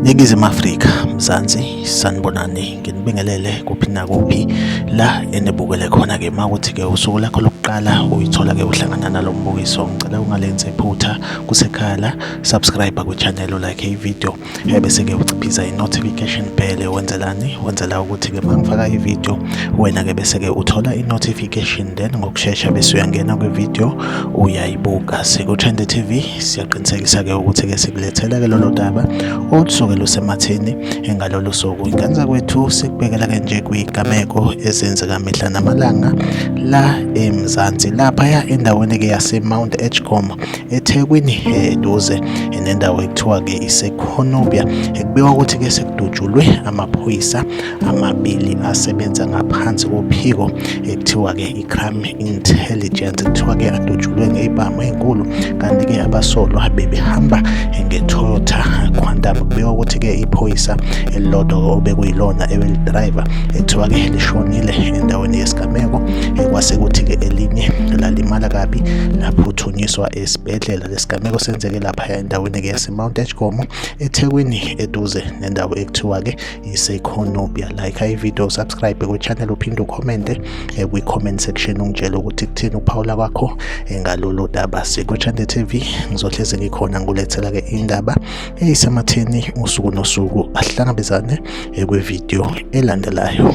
Ningizimu Afrika Mzansi sanibonani nginibingelele kuphi nakuphi la enibukele khona ke makuthi ke usuku lakho lokuqala uyithola ke uhlangana nalombukiso ngicela ungalenze iphutha kusekhala subscribe ku channel like i video ebese-ke uciphiza i-notification bell wenzelani wenzela ukuthi-ke uma ngifaka i-video wena-ke bese-ke uthola i-notification then ngokushesha bese uyangena kwi-video uyayibuka siku-trend tv siyaqinisekisa-ke ukuthi-ke sikulethela-ke lolo daba olusuke lusematheni engalolu suku ingane zakwethu sikubekela-ke nje kwigameko ezenzeka mihla namalanga la emzansi laphaya endaweni-ke yase-mount edgecom ethekwini eduze nendawo ekuthiwa-ke isekhonobia ekubikwa ukuthi-ke sekudutshulwe amaphoyisa amabili asebenza ngaphansi kophiko ekuthiwa-ke i-crime intelligence kuthiwa-ke adutshulwe ngey'bhamu ey'nkulu kanti-ke abasolwa bebehamba ngetoyota quantum kubikwa ukuthi-ke iphoyisa elilodwa obekuyilona ebelidrayiva ekuthiwa-ke lishonile endaweni yesigameko kwase kuthi-ke elinye lalimala kabi laphuthu ukugonyiswa esibhedlela lesigameko senzeke lapha endaweni ke yasemount edgecom ethekwini eduze nendawo ekuthiwa ke iseconobia like ivideo subscribe kwichannel uphinde ukhomente eh, kwi-comment section ungitshele ukuthi kuthini ukuphawula kwakho eh, ngalolu daba sikuchande tv ngizohlezi ngikhona ngulethela ke indaba eyisematheni usuku nosuku ahlangabezane eh, kwivideo elandelayo